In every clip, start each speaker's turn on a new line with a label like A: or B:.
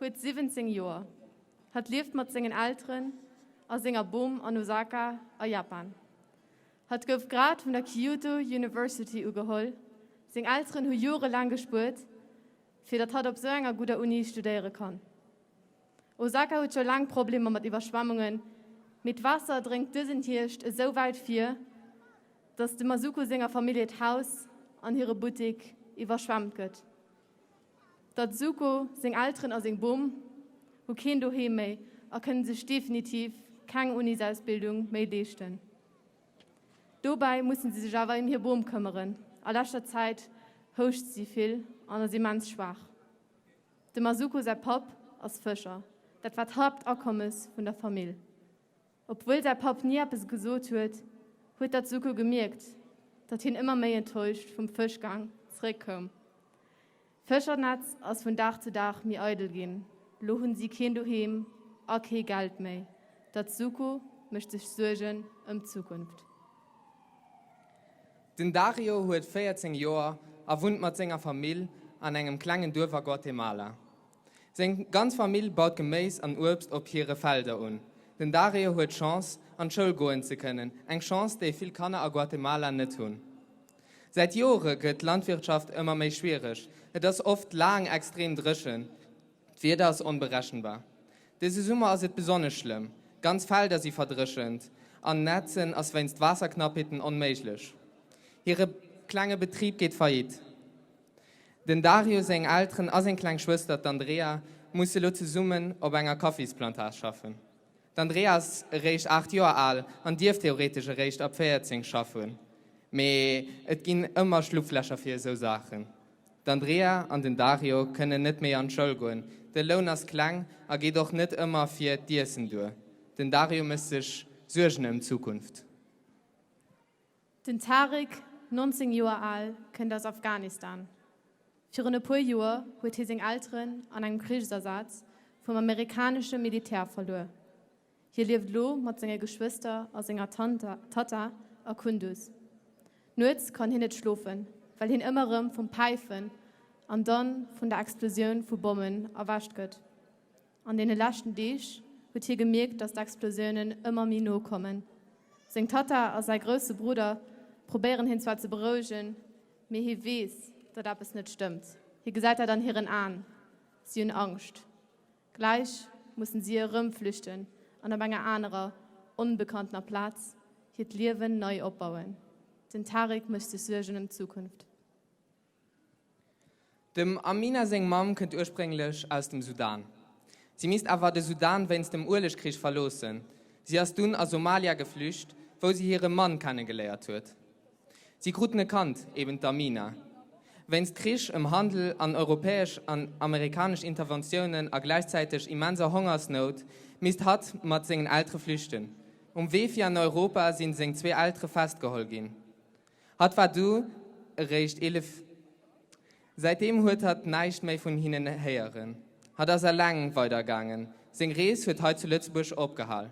A: huet 17 Joer. Hatt lieft mat sengen Elteren a senger Bom an Osaka a Japan. Hatt gouf grad vun der Kyoto University ugeholl. Seng Elteren hu jorelaang gespuert, fir datt hatt op esou enger gudder Uni studéiere kann. Osaka huet scho laang Problemer mat Iwwerschwemmungen, mee d'Waasser dréngt dësen Hierscht esou wäit vir, datt dem Masuko senger Famillje d'Haus an hire Buttek iwwerschwemmt gëtt. D'Atsuko, seng Elteren a seng Bom hu keen Doheem méi a kënnen sech definitiv keng Unisausbildung méi leeschten. Dobäi musse si sech awer ëm hir Bom këmmeren. A leschter Zäit houscht si vill an ass immens schwaach. Dem Atsuko säi Papp ass Fëscher, dat war d'Haaptakommes vun der Famill. Obwuel säi Papp ni eppes gesot huet, huet d'Atsuko gemierkt, datt hien ëmmer méi enttäuscht vum Fëschgang zeréck koum. D'Fëschernetz ass vun Dag zu Dag méi eidel ginn, lo hunn si keen Doheem a kee Geld méi. D'Atsuko mécht sech Suergen ëm d'Zukunft.
B: Den Dario huet 14 Joer a wunnt mat senger Famill an engem klengen Duerf a Guatemala. Seng ganz Famill baut Geméis an Uebst op hire Felder un. Den Dario huet d'Chance, an d'Schoul goen ze kënnen, eng Chance, déi vill Kanner a Guatemala net hunn. Säit Jore gëtt d'Landwirtschaft ëmmer méi schwiereg, et ass oft laang extrem dréchen, d'Wieder ass onberechenbar. Dëse Summer ass et besonnesch schlëmm, ganz Felder si verdréchent an nätzen ass wéinst Waasserknappheeten onméiglech. Hire klenge Betrib geet faillite. Den Dario seng Elteren a seng kleng Schwëster, d'Andrea, musse lo zesummen op enger Kaffisplantage schaffen. D'Andrea ass eréischt 8 Joer al an dierf theoretesch eréischt ab 14 schaffen, mee et ginn ëmmer Schlupflächer fir esou Saachen. D'Andrea an den Dario kënnen net méi an d'Schoul goen, de Loun ass kleng a geet och net ëmmer fir d'Iessen duer. Den Dario mécht sech Suergen ëm d'Zukunft.
A: Den Tariq, 19 Joer al, kënnt aus Afghanistan. Virun e puer Joer huet hie seng Elteren an engem Krichsasaz vum amerikanesche Militär verluer. Hie lieft elo mat senge Geschwëster a senger Tanta Tatta a Kunduz. Nuets kann hien net schlofen, well hien ëmmer erëm vum Päifen an dann vun der Explosioun vu Bommen erwächt gëtt. An deene leschten Deeg huet hie gemierkt, datt d'Explosiounen ëmmer méi no kommen. Seng Tatta a säi grousse Brudder probéieren hien zwar ze berouegen, mee hie weess, datt eppes net stëmmt. Hie gesäit dat an hiren Aen, si hunn Angscht. Gläich mussen si erëm flüchten an op enger anerer, onbekanntener Plaz hiert Liewen nei opbauen. Den Tariq mécht sech Suergen ëm d'Zukunft.
B: Dem Amina seng Mamm kënnt ursprénglech aus dem Sudan. Si misst awer de Sudan wéinst dem Uelegkrich verloossen. Si ass dunn a Somalia geflücht, wou si hire Mann kennegeléiert huet. Si kruten e Kand, eben d'Amina. Wéinst Krich ëm Handel an europäesch an amerikanesch Interventiounen a gläichzäiteg immenser Hongersnout misst hatt mat sengen Eltere flüchten. Um Wee fir an Europa sinn seng zwee Eltere festgeholl ginn. Hatt war du eréischt 11. Säitdeem huet hatt näischt méi vun hinnen héieren. Hatt ass eleng weider gaangen. Seng Rees huet hei zu Lëtzebuerg opgehal.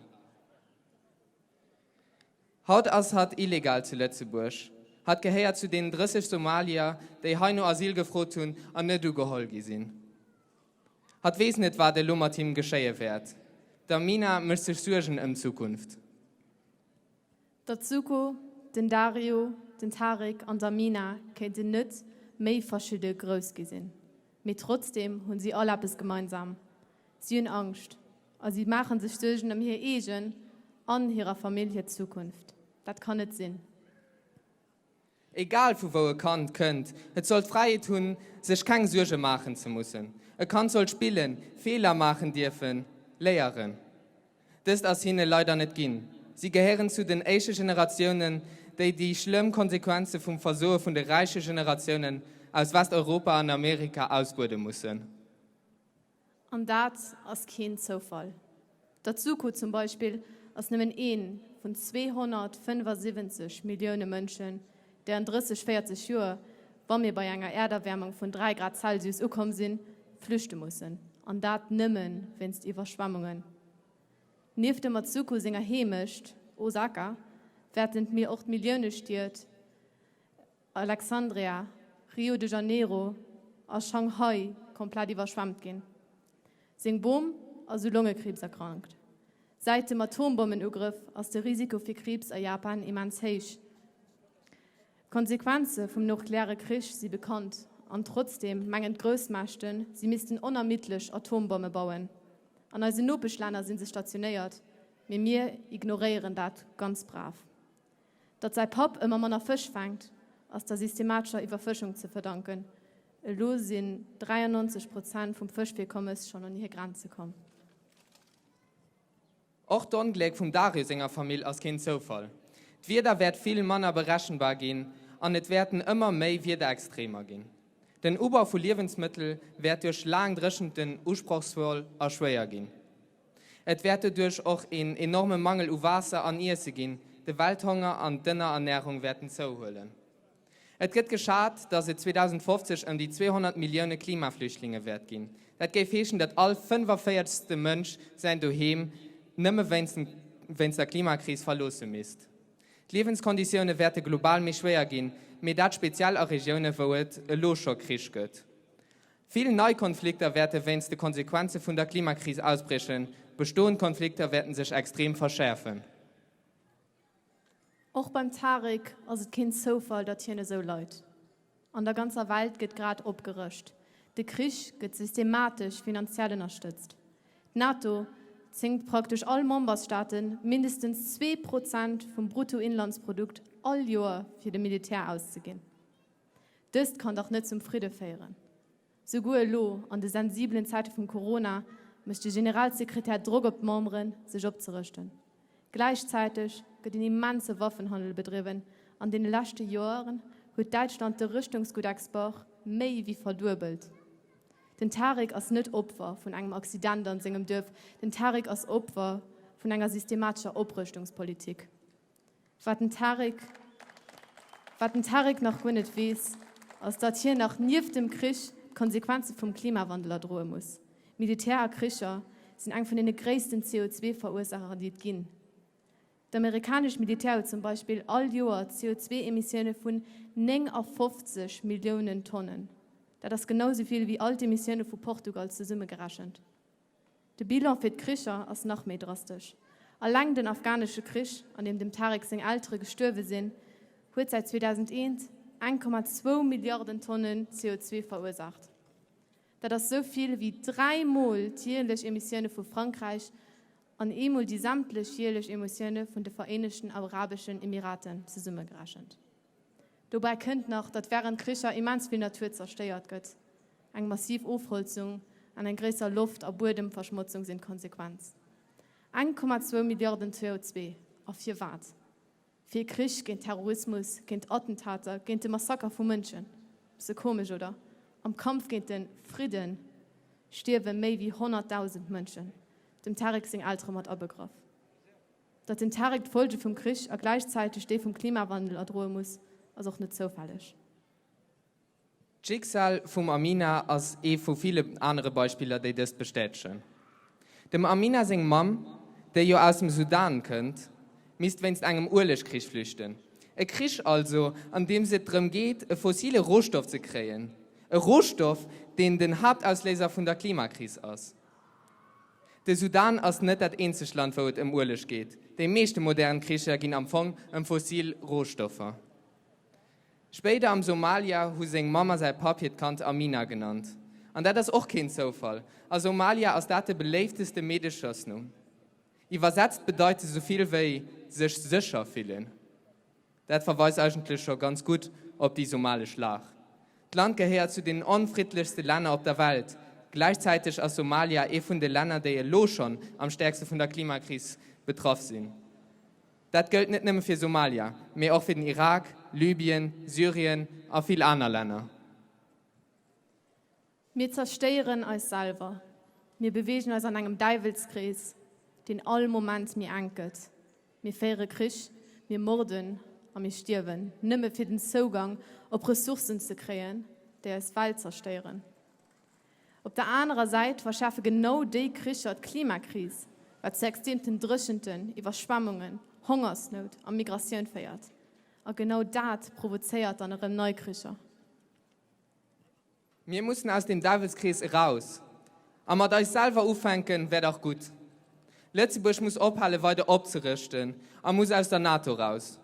B: Haut ass hatt illegal zu Lëtzebuerg. Hatt gehéiert zu deenen 30 Somalier, déi hei no Asyl gefrot hunn an net ugeholl gi sinn. Hatt weess net, wat elo mat him geschéie wäert. D'Amina mécht sech Suergen ëm d'Zukunft.
A: D'Atsuko, den Dario, den Tarek an d'Amina kéinten net méi verschidde grouss gi sinn, mee trotzdeem hunn si all eppes gemeinsam, si hunn Angscht a si maache sech Suergen ëm hir eegen an hirer Famill hir Zukunft. Dat kann net sinn. Egal
B: vu wou e Kand kënnt, et soll d'Fräiheet hunn, sech keng Suerge maachen ze mussen. E Kand soll spillen, Feeler maachen dierfen, léieren. Dëst ass hinne leider net ginn. Si gehéieren zu den éische Generatiounen, déi déi schlëmm Konsequenze vum Versoe vun de räiche Generatiounen aus Westeuropa an Amerika ausbuede mussen.
A: An dat ass keen Zoufall. Dat Succo zum Beispill ass nëmmen ee vun 275 Millioune Mënschen, déi an 30, 40 Joer, wa mir bei enger Äerderwäermung vun 3 Grad Celsius ukomm sinn, flüchte mussen. An dat nëmme wéinst Iwwerschwemmungen. Nieft dem Matsuko senger Heemecht Osaka, wäerten d'Mier och d'Milliounestied Alexandria, Rio de Janeiro a Shanghai komplett iwwerschwemmt ginn. Seng Bom ass u Longekriibs erkrankt. Säit dem Atombommenugrëff ass de Risiko fir Kriibs a Japan immens héich. D'Konsequenze vum nukleare Krich si bekannt an trotzdeem mengen d'Groussmächten, si missten onermiddlech Atombomme bauen. An eisen Nopeschlänner si se stationéiert, mee mir ignoréieren dat ganz brav. Datt säi Papp ëmmer manner Fësch faangt, ass der systematescher Iwwerfëschung ze verdanken. Elo sinn 93 Prozent vum Fëschvirkommes schonn un hir Grenze komm.
B: Och d'Ongléck vum Dario senger Famill ass keen Zoufall. D'Wieder wäert vill manner berechenbar ginn an et wäerten ëmmer méi Wiederextremer ginn. Den Ubau vu Liewensmëttel wäert duerch laang Dréchenten usprochsvoll a schwéier ginn. Et wäert doduerch och een enorme Mangel u Waasser an Iesse ginn, de Welthonger an d'Ënnerernärung wäerten zouhuelen. Et gëtt geschat, datt et 2050 ëm déi 200 Millioune Klimaflüchtlinge wäert ginn. Dat géif heeschen, datt all fënnefavierzegste Mënsch säin Doheem nëmme wéinst der Klimakris verloosse misst. D'Liewenskonditioune wäerte global méi schwéier ginn, mee dat speziell a Regioune wou et elo scho Krich gëtt. Vill nei Konflikter wäerte wéinst de Konsequenze vun der Klimakris ausbriechen, bestoend Konflikter wäerte sech extrem verschäerfen.
A: Och beim Tarek ass et keen Zoufall, datt hien esou leit. An der ganzer Welt gëtt grad opgerëscht, de Krich gëtt systematesch finanziell ënnerstëtzt. D'NATO zwéngt praktesch all Membersstaate mindestens zwee Prozent vum Bruttoinlandsprodukt all Joer fir de Militär auszeginn. Dëst kann dach net zum Fridde féieren. Souguer elo, an de sensibelen Zäite vum Corona, mécht de Generalsekretär Drock op d'Memberen, sech opzerëschten. Gläichzäiteg gëtt en immense Waffenhandel bedriwwen. An deene leschte Joren huet Däitschland de Rëschtungsguttexport méi wéi verduebelt. Den Tariq ass net Opfer vun engem Accident an sengem Duerf, den Tariq ass Opfer vun enger systematescher Oprëschtungspolitik. Wat den Tariq, wat den Tariq nach guer net weess, ass datt hien nach nieft dem Krich d'Konsequenze vum Klimawandel erdroe muss. Militär a Kricher sinn eng vun deene gréissten CO2-Verursaacher déi et ginn. D'amerikanescht Militär huet zum Beispill all Joer CO2-Emissioune vun 59 Milliounen Tonnen. Dat ass genau esou vill wéi all d'Emissioune vu Portugal zesummegerechent. De Bilan fir d'Kricher ass nach méi drastesch. Alleng den afghanesche Krich, an deem dem Tarek seng Eltere gestuerwe sinn, huet säit 2001 eng Komma zwou Milliarden Tonne CO2 verursaacht. Dat ass esou vill ewéi dräi Mol d'jierlech Emissioune vu Frankräich an eemol déi sämtlech jierlech Emotioune vun de Vereenegten Arabeschen Emiraten zesummegerechent. Dobäi kënnt nach, datt wärend Kricher immens vill Natur zerstéiert gëtt. Eng massiv Ofholzung an eng gréisser Loft a Buedemverschmotzung sinn d'Konsequenz. Eng Komma zwou Milliarden CO2. A firwat? Fir Krich, géint Terrorismus, géint Attentater, géint de Massaker vu Mënschen. Besse komesch, oder? Am Kampf géint de Fridde stierwe méi wéi 100.000 Mënschen, dem Tarek seng Eltere mat abegraff. Datt den Tarek d'Folge vum Krich a gläichzäiteg déi vum Klimawandel erdroe muss, ass och net zoufälleg.
B: D'Schicksal vum Amina ass ee vu ville anere Beispiller, déi dëst bestätegen. Dem Amina seng Mamm, déi jo aus dem Sudan kënnt, misst wéinst engem Uelegkrich flüchten. E Krich also, an deem se et drëm geet, e fossile Rohstoff ze kréien. E Rohstoff, deen den Haaptausléiser vun der Klimakris ass. De Sudan ass net dat eenzegt Land, wou et ëm Ueleg geet. Déi meeschte modern Kricher ginn am Fong ëm fossil Rohstoffer. Spéider am Somalia hu seng Mamm a säi Papp hiert Kand Amina genannt. An dat ass och keen Zoufall. A Somalia ass dat de beléifteste Meedeschosnumm. Iwwersetzt bedeit se souvill wéi sech sécher fillen. Dat verweist eigentlech scho ganz gutt op déi somalesch Lag. D'Land gehéiert zu den onfriddlechste Länner op der Welt. Gläichzäiteg ass Somalia ee vun de Länner, déi elo schonn am stäerkste vun der Klimakris betraff sinn. Dat gëllt net nëmme fir Somalia, mee och fir den Irak, Libyen, Syrien a vill aner Länner.
A: Mir zerstéieren eis selwer. Mir beweegen eis an engem Däiwelskrees, deen all Moment méi enk gëtt. Mir féiere Krich, mir morden a mir stierwen, nëmme fir den Zougang op Ressourcen ze kréien, déi eis Welt zerstéieren. Op der anerer Säit verschäerfe genau déi Kricher d'Klimakris, wat zu extreemten Dréchenten, Iwwerschwemmungen, Hongersnout a Migratioun féiert. A genau dat provozéiert dann erëm nei Kricher.
B: Mir mussen aus dem Däwelskrees eraus a mat eis selwer ufänken, wär dach gutt. Lëtzebuerg muss ophale weider opzerëschten a muss aus der NATO raus.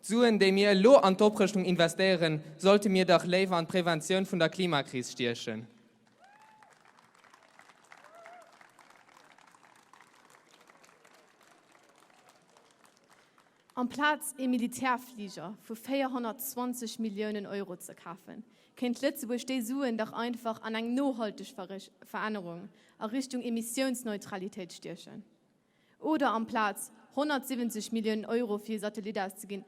B: D'Suen, déi mir elo an d'Oprëschtung investéieren, sollte mir dach léiwer an d'Preventioun vun der Klimakris stiechen.
A: Amplaz ee Militärfliger vu 420 Milliounen Euro ze kafen, kéint Lëtzebuerg déi Suen dach einfach an eng nohalteg Verännerung a Richtung Emissiounsneutralitéit stiechen. Oder amplaz 170 Milliounen Euro fir ee Satellit auszeginn,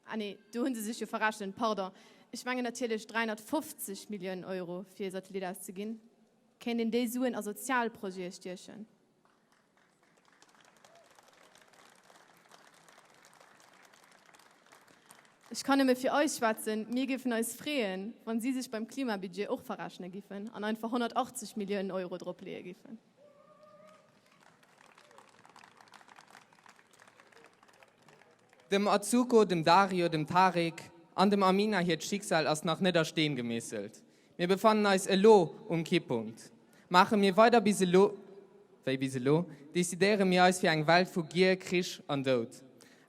A: ah nee, do hu se sech jo verrechent, pardon, ech mengen natierlech 350 Milliounen Euro fir ee Satellit auszeginn, kéint een déi Suen a Sozialprojete stiechen. Ech kann nëmme fir eis schwätzen, mir géifen eis freeën, wa si sech beim Klimabudget och verrechne giffen an einfach 180 Milliounen Euro dropleeë giffen.
B: Dem Atsuko, dem Dario, dem Tarek an dem Amina hiert Schicksal ass nach net a Steen gemeesselt. Mir befannen eis elo um Kippunkt. Maache mir weider bis elo wéi bis elo, decidéiere mir eis fir eng Welt vu Gier, Krich an Doud.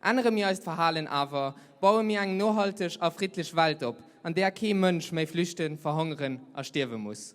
B: Ännere mir eist Verhalen awer, baue mir eng nohalteg a friddlech Welt op, an där kee Mënsch méi flüchten, verhongeren a stierwe muss.